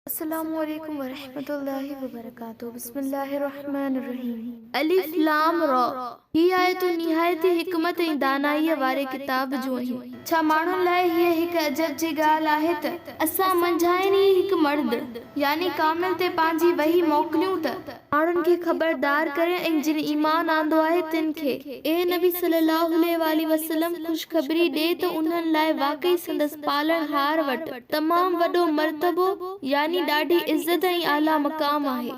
السلام عليڪم ورحمة الله وبرڪاته بسم الله الرحمن الرحيم الف لام را هي آيتون نهايت ئي حڪمت ۽ دانائيء واري ڪتاب جون آهن ڇا ماڻهن لاء هيء هڪ عجب جي ڳالهه آهي ته اسان منجهانئن ئي هڪ مرد يعني ڪامل تي پنهنجي وحي موڪليون ته ماڻهن کي خبردار ڪرين ۽ جن ايمان آندو آهي تن کي، اي نبي صلّي اللّٰه عليه واٰله وسلّم، خوشخبري ڏي ته انهن لاء واقعي سندس پالڻهار وٽ تمام وڏو مرتبو يعني ڏاڍي عزت ۽ اعليٰ مقام آهي،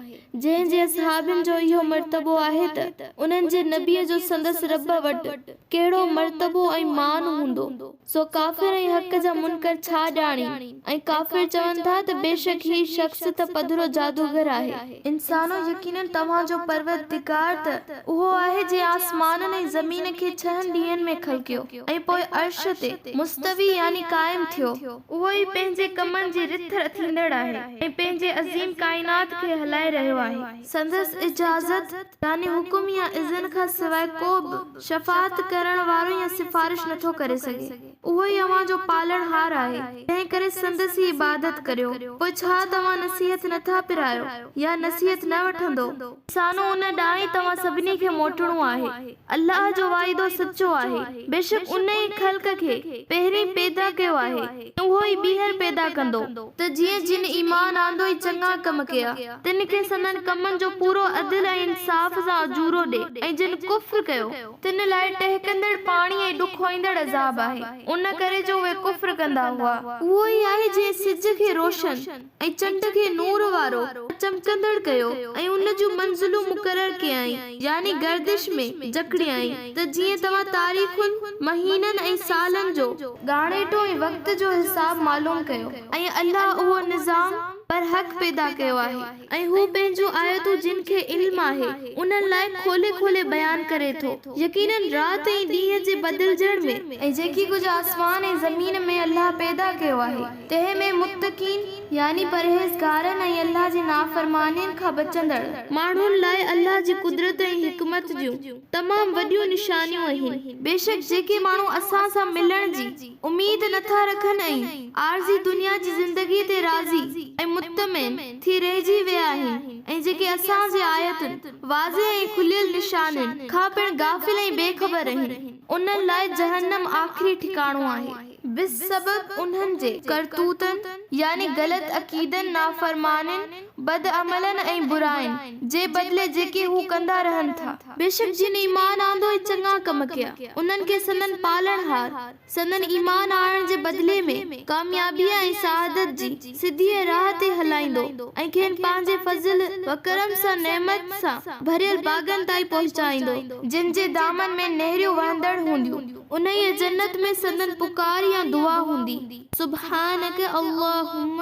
جنهن جي اصحابين جو اهو مرتبو آهي ته انهن جي نبيء جو سندس ربّ وٽ ڪهڙو مرتبو ۽ مان هوندو. سو ڪافر ۽ حق جا منڪر ڇا ڄاڻين ۽ ڪافر چون ٿا ته بيشڪ هي شخص ته پڌرو جادوگر آهي. انسانو! يقيناً توهان جو پروردگار ته اهو آهي جنهن آسمانن ۽ زمين کي ڇهن ڏينهن ۾ خلقيو ۽ پوء عرش تي، مستوي يعني قائم، ٿيو. اهو ئي پنهنجي ڪمن جي رٿ رٿيندڙ آهي ۽ پنهنجي عظيم ڪائنات کي هلائي رهيو آهي. سندس اجازت يعني حڪم يا اذن کان سواء ڪو به. شفاعت ڪرڻ وارو يا سفارش نه ٿو ڪري سگهي. اهو ئي اوهان جو پالڻهار آهي، تنهن ڪري سندس ئي عبادت ڪريو. پوء ڇا توهان نصيحت نه ٿا پرايو يا نصيحت نه وٺندو؟ سانو ان ڏانهن ئي توهان سڀني کي موٽڻو آهي. الله جو واعدو سچو آهي. بيشڪ ان ئي خلق کي پهرين پيدا ڪيو آهي. اهو ئي ٻيهر پيدا ڪندو، ته جيئن جن ايمان آندو ۽ چڱا ڪم ڪيا، تن کي سندن ڪمن جو پورو عدل ۽ انصاف سان اجورو ڏي، ۽ جن ڪفر ڪيو، تن لاء ٽهڪندڙ پاڻي ۽ ڏکوئيندڙ عذاب آهي، ان ڪري جو اهي ڪفر ڪندا هئا. اهو ئي آهي جنهن سج کي روشن. ۽ چنڊ کي نور وارو ۽ چمڪندڙ ڪيو ۽ ان جون منزلون مقرر ڪيائين يعني گردش ۾ جڪڙيائين ته جيئن توهان تاريخن، مهينن ۽ سالن جو. ڳاڻيٽو ۽ وقت جو حساب معلوم ڪيو ۽ الله اهو نظام برحق پيدا ڪيو آهي ۽ هو پنهنجون آيتون جن کي علم آهي انهن لاء کولي کولي بيان ڪري ٿو يقيناً رات ۽ ڏينهن جي بدلجڻ ۾. ۽ جيڪي ڪجهه آسمان ۽ زمين ۾ الله پيدا ڪيو آهي. تنهن ۾ متقين، يعني پرهيزگارن ۽ الله جي نافرمانين کان بچندڙ. ماڻهن لاء الله جي قدرت ۽ حڪمت جون تمام وڏيون نشانيون اهن. بيشڪ جيڪي ماڻهو اسان سان ملڻ جي اميد نه ٿا رکن ۽ عارضي دنيا جي زندگيء تي راضي ۽ مطمئن ٿي رهجي ويا آهن ۽ جيڪي اسان جي آيتن، واضح ۽ کليل نشانين، کان پڻ غافل ۽ بي خبر رهن، انهن لاء جهنم آخري ٺڪاڻو آهي. بسبب انهن جي ڪرتوتن يعني غلط عقيدن، نافرمانين، بدعملن ۽ براين جي بدلي جيڪي هو ڪندا رهن ٿا. بيشڪ جن ايمان آندو ۽ چڱا ڪم ڪيا، انهن کي سندن پالڻهار سندن ايمان آڻڻ جي بدلي ۾ ڪاميابيء ۽ سعادت جي سڌيء راهه تي هلائيندو ۽ کين پنهنجي فضل وڪرم سان نعمت سان ڀريل باغن تائين پهچائيندو، جن جي دامن ۾ نهريون وهندڙ هونديون. انهيء جنت ۾ سندن پڪار يا دعا هوندي، سبحانک اللهم،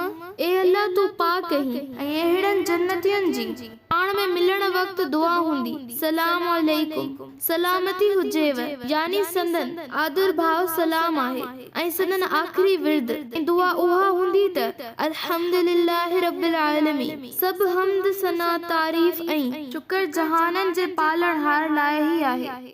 اي الله تون پاڪ آهين ۽ اهڙن جنتين جي پاڻ ۾ ملڻ وقت دعا هوندي، سلام عليڪم، سلامتي هجيو، يعني سندن آڌرڀاء سلام آهي ۽ سندن آخري ورد ۽ دعا اها هوندي ته، الحمد لله رب العالمين، سڀ حمد، ثنا، تعريف ۽ شڪر جهانن جي پالڻهار لاء ئي آهي.